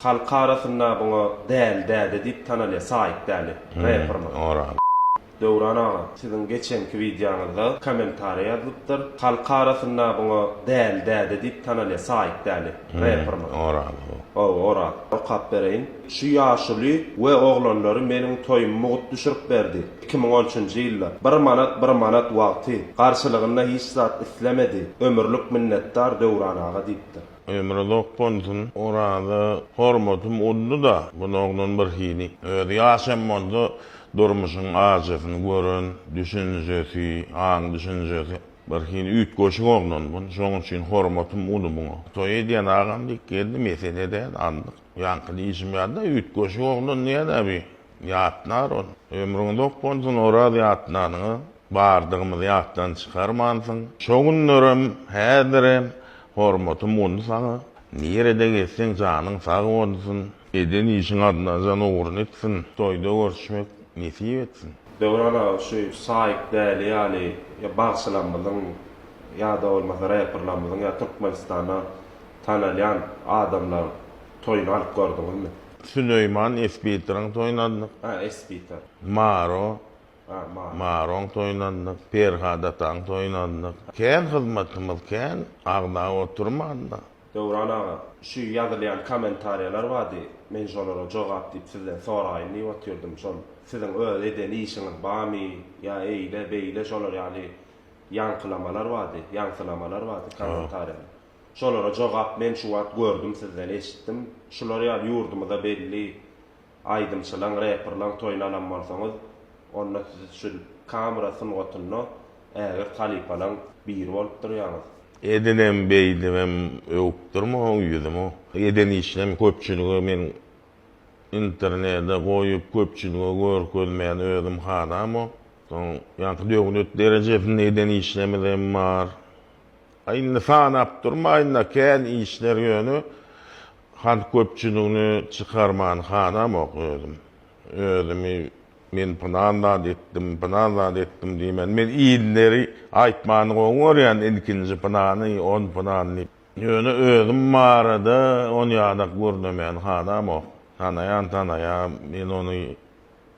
Halk arasynda buňa Däli däde diýip tanalýar, Saýyt Däli, reperimiz. Döwran aga, siziň geçenki wideoňyzda kommentariýa ýazylypdyr. Halk arasynda buňa Däli däde diýip tanalýar, Saýyt Däli, reperimiz. Oraz bu. Hawa, Oraz. Okap bereýin. Şu ýaşuly we oglanlary meniň toýumy mugt düşürip berdi. Iki müň on üçünji ýylda. Bir manat, bir manat wagty. Garşylygynda hiç zat islemedi. Ömürlik minnetdar Döwran aga diýipdir. Ömri zok bolsun. Oraza hormatym uddy-da, bunagdan bir hili. Özi ýaşam bolsa, durmuşyň ajysyny gören, düşünjesi, aň-düşünjesi bir hili üýtgeşik oglan bun. Şonuň üçin hormatym uly buňa. Toý edýän agam diýip geldi, mesele däl, aldyk. Ýaňky diýşim ýaly-da, üýtgeşik oglan diýýär-ä bi. Ýatlar ol. Ömrüň uzak bolsun Oraz ýatlanyňa bardygymyzy ýatdan çykarmansyň. Şo günlerem, häzirem hormatym boldy saňa. Nirede gezseň janyň sag bolsun. Eden işiň adynanjan ugruny etsin. Toýda görüşmek nesip etsin. Döwran aga şu Saýyk Däli ýaly ýa bagşylarmyzyň ýada bolmasa reperlarmyzyň ýa Türkmenistanda tanalýan adamlaryň toýuny alyp gördüňizmi? Süleýman Espitryň toýuna adynyk. A, Espitr. Maro. A, Maro. Maroň toýuna adynyk. Perhat ataň toýuna adynyk. Kän hyzmatymyz kän, agzap oturman-da. Döwran aga, şu ýazylýan kommentariýalar bardy, men şolara jogap diýip sizden soraýyn diýip otyrdym. Şol siziň öz eden işiňiz barmy, ýa eýle, beýle şolar ýaly ýaňkylamalar bardy, ýaňsylamalar bardy kommentariýada. Şolara jogap men şu wagt gördüm sizden eşitdim. Şular ýaly ýurdumyza belli aýdymçylaň, reprlaň toýuny alan bolsaňyz onda siz şu kamera sungatynda ägirt halypalaň biri bolup durýaňyz. Edinem beýdibem öwüp durma o ýüzümi. Eden işinem köpçülige men internede goýup köpçülige görkezmän özüm hadam o. Soň ýaňky döwlet derejesinde eden işlemizem bar. Indi sanap durmaýynda kän işler ýöne han köpçüligini çykarman hanamok özüm. Özümi men pylan zat etdim, pylan zat etdim diýmän men illeri aýtmany gowy görýän ilkinji pylany on pylan diýip. Ýöne özüm barada on ýadak gürlemän hanamok. Tanaýan tanaýa men ony.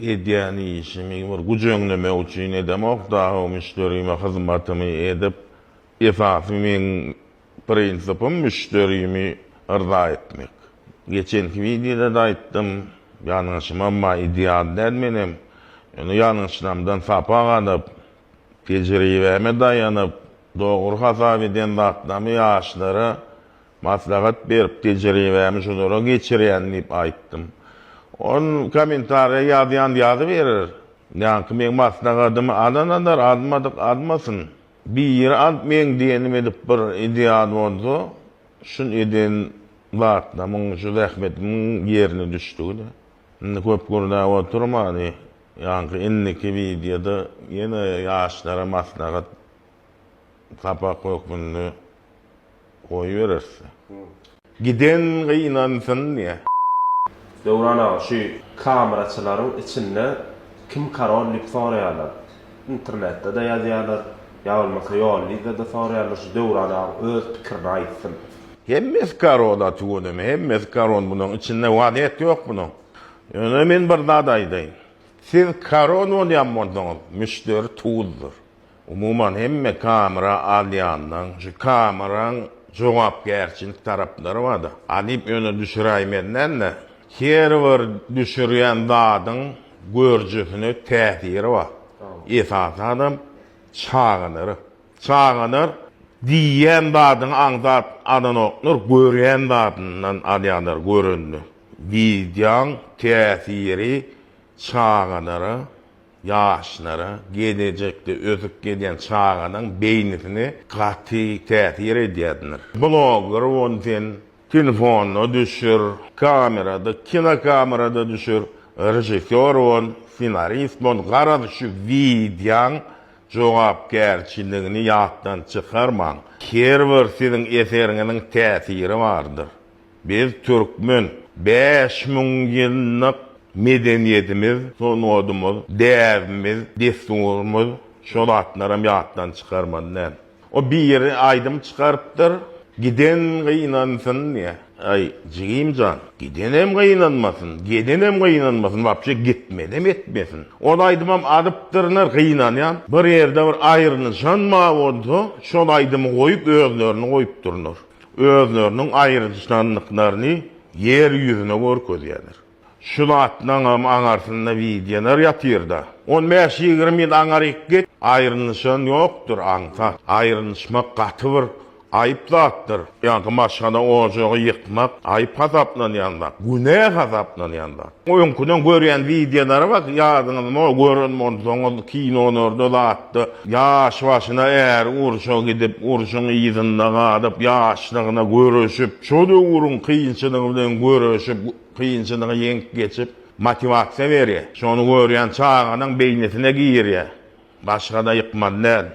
Edýän işimi bir güç öňlemek üçin edemok dagy, müşderime hyzmatymy edip, esasy meň prinsipim müşderimi yrza etmek. Geçenki wideoda-da aýtdym, ýalňyşym emma ideal däl menem. Ýöne ýalňyşlarymdan sapak alyp, tejribäme daýanyp, dogry hasap eden zatlarymy ýaşlara Maslahat berip, tejribämi şulara geçirýän diýip aýtdym. Ol kommentariýa ýazýan ýazyberer. Ýaňky meň maslahatymy alan alar, almadyk almasyn. Biri alyp meň diýenim edip bir ideal bolsa, şul eden zatlamyň, şu zähmetimiň ýerine düşdügini. Indi köp gürläp oturman, ýaňky indiki wideoda ýene ýaşlara maslahat sapak hökmünde goýbereris. Giden gynansyn diýä. Döwran aga şu kameraçylaryň içinde kim karol diýip soraýarlar. Internetde-de ýazýarlar, ýa bolmasa ýollyda-da soraýarlar, şu Döwran aga öz pikirini aýtsyn. Hemmesi karol a tüweleme hemmesi karol bunuň içinde wazýet ýok bunuň. Ýöne men bir zat aýdaýyn. Siz karol bolýan bolsaňyz müşderi tuzdyr. Umuman hemme kamera alýandan şu kameraň jogapkärçilik taraplary barda. Alyp öne düşüräýmezden-de her bir düşürýän zadyň görjüsine täsiri bar. Esasy adam çagalar. Çagalar diýýän zadyňy aňsat alanoklar, görýän zadyndan alýarlar görende. Wideoň täsiri çagalara Ýaşlara geljekde ösüp gelýän çaganyň beýnisine gaty täsir edýändir. Blogger bol sen, telefonda düşür, kamerada, kinokamerada düşür, režissýor bol, ssenarist bol, garaz şu wideoň jogapkärçiligini ýatdan çykarmaň. Her bir siziň eseriňiziň täsiri bardyr. Biz türkmen. Bäş müň ýyllyk medeniýetimiz, sungatymyz, däbimiz, dessurymyz şo zatlaram ýatdan çykarmaly däl. O biri aýdym çykarypdyr, Giden gynansyn diýä. Aý, jigim jan, gidenem gynanmasyn, gedenem gynanmasyn, wapşe gitmedem etmesin. Ol aýdymam alypdyrlar, gynanýan. Bir ýerde bir aýrynyşan bar bolsa, şol aýdymy goýup özlerini goýupdyrlar. özleriniň aýryjnanlyklaryny ýer ýüzüne görkezýärler. Şu zatlaňam aňarsynda widýalar ýatyrda. On bäş ýigrimi ýyl aňaryk git, aýrynyşan ýokdur aňsat. Aýrynyşmak gaty bir aýyp zatdyr. Ýa-da maşgala ojagy ýykmak aýyp hasaplanýan zat, günä hasaplanýan zat. Öňküden görýän wideolara bak ýadyňyzmy gören bolsaňyz kinolarda zatda ýaş başyna äri urşa gidip urşuň yzynda galyp ýaşlygyna göreşip şo döwrüň kynçylygy bilen göreşip kynçylygy ýeňip geçip motiwasiýa berýär şony görýän çaganyň beýnisine girýär başgada ýykmaly däl.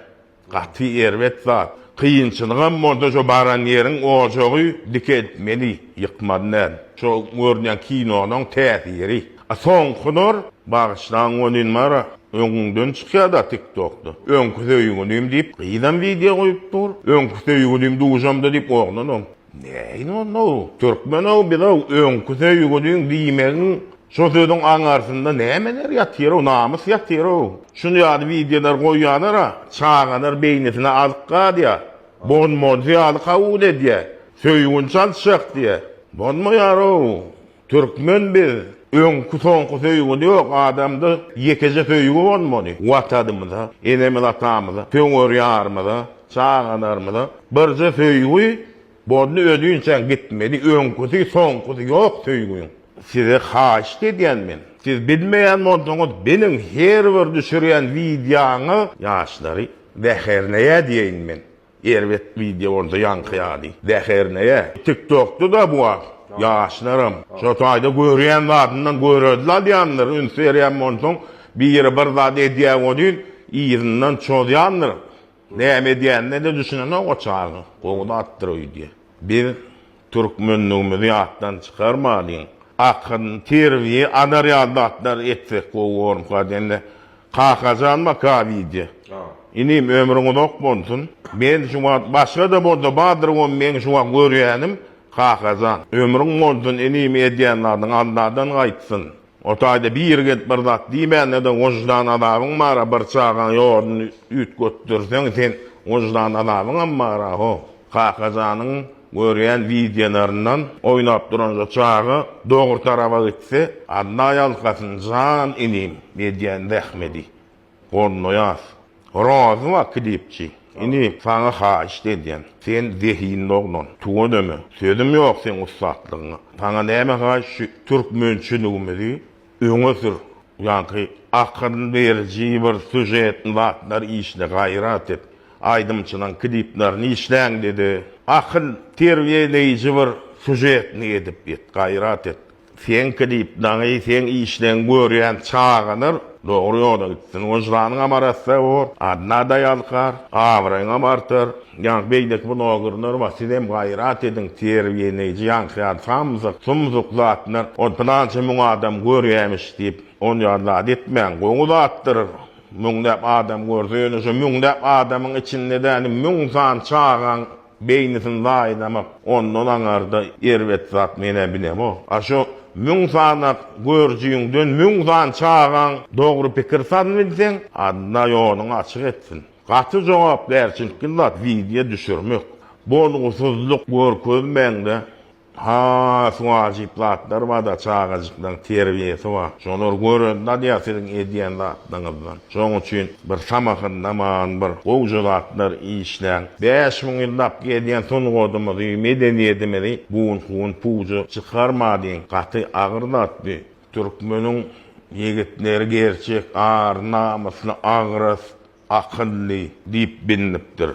Gaty erbet zat. Kynçylygam bolsa şo baran ýeriň ojagy dikeltmeli, ýykmaly däl. Şo görünýän kinolaň täsiri. A soňkular, bagyşlaň welin bar, öňüňden çykýada tiktokda. Öňki söýgülim diýip gyzam wideo goýup dur. Öňki söýgülim duşamda diýip oglanam. Näin onda-ow? Türkmen-ow biz-ow öňki söýgüliň diýmegiň şo sözüň aňarsynda nämeler ýatyr-ow, namys ýatyr-ow. Şuny ýaly wideolar goýýalar-a, çagalar beýnisine azyk gadýar, bolmajy ýaly kabul edýär, söýgini çalyşjak diýýär. Bolmaýar-ow. Türkmen biz öňki soňky söýgi ýok adamda ýekeje söýgi bolmaly watanymyza enemiz atamyza söňer ýarymyza çagalarymyza birje söýgi boldy özünçäň gitmeli öňküsi soňkusy ýok söýgüň size haýyşt edýän men siz bilmeýän bolsaňyz biliň her bir düşürýän wideoňyz ýaşlary zäherleýä diýeýin men. Erbet wideo boldy ýaňky ýaly. Zäherleýä. Tik tokda da bu wagt ýaşlaram şo taýda görýän zadyndan görelde alýandyr üns berýän bolsaň biri bir zat edýä welin yzyndan çozýandyr näme edýänine de düşünenok o çaga gowy zatdyr öýdýä biz Türkmenligimizi ýatdan çykarmalyň. Akgyn terbiýe azar ýaly zatlar etsek gowy bormka dende. Kakajan baka wideo. Inim ömrüň uzak bolsun. Men şu wagt başgada bolsa bardyr gowy meň şu wagt görýänim Kakajan. Ömrüň bolsun inim edýän zadyň Alladan gaýtsyn. O taýda bir gezek bir zat diýmände-de wyždan azabyň bar-a, bir çagaň ýoluny üýtgetdirseň, sen wyždan azabyňam bar-a, ho. Kakajanyň görýän wideolaryndan oýnap duranja çaga dogry taraba gitse, Alla ýalkasyn, jan inim, edýän zähmedi. Gornoýas, Rozy wah kidipçi, ini, saňa haýyşt edýän, sen zehinli oglan, tüweleme, sözüm ýok seň ussatlygyňa, saňa näme haýyş, şu türkmençiligimizi öňe sür, ýaňky akyl beriji bir sýužetni zatlar işle, gaýrat et, aýdymçylaň kliplerini işläňde-de, akyl terbiýeleýji bir sýužetni edip ýet, gaýrat et. Seňki diýip dagy seň işleň görýän çagalar dogry ýola gitsin. Wyždanyňam arassa bor, adnada ýalkar, abraýyňam artar. Ýaňky beýleki blogerler bar, sizem gaýrat ediň, terbiýeleýji ýaňky ýaly samsyk, sumsuk zatlar, ol pylança müň adam görýämiş diýip, ol ýaly zat etmäň. Gowy zatdyr, müňläp adam görse, ýöne şo müňläp adamyň içinde däli müň sany çagaň, Beýnisini zaýalamak ondan aňarda erbet zat menä bilemok. A şo müň sanak görjüňden müň san çagaň dogry pikir saz bilseň Alla ýoluňy açyk etsin. Gaty jogapkärçilikli zat wideo düşürmek. Bolgusyzlyk görkezmäňde Has wajyp zatlar bada çagajyklaň terbiýesi bar şolar gören dadýa siziň edýän zatlaňyzdan şoň üçin bir samahyndaman bir gowja zatlar işläň bäş müň ýyllap gelýän sungadymyzy medeniýedimizi bun hun puja çykarmadiň gaty agyr zat bi türkmeniň ýigitleri gerçek ar namysly agras Akylly diýip bilinipdir.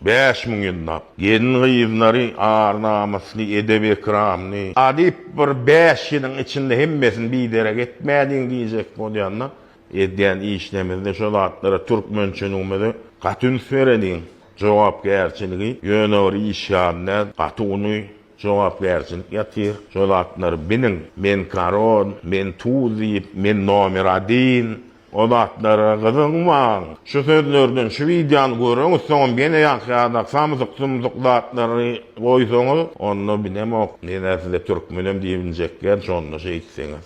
Bäş müň ýyllap. Gelin-gyzlary ar-namysly, edep-ekramly. Adyp bir bäş ýylyň içinde hemmesini biderek etmäliň diýjek bolýanda, edýän işlemizde şo zatlara türkmençiligimizi gaty üns bereliň. Jogapkärçiligi ýöne bir iş ýaly däl, gaty uly jogapkärçilik ýatyr. Şo zatlary biliň. Men korol, men tuz diýip, men nomer adin, O zatlara gyzykmaň. Şu sözlerden şu wideony göreňiz, soňam ýene ýaşaýarda samsyk sumsyk zatlary goýsaňyz, onda bilemok, ýene size türkmenem diýip injekýän, şonda şeýtseňiz.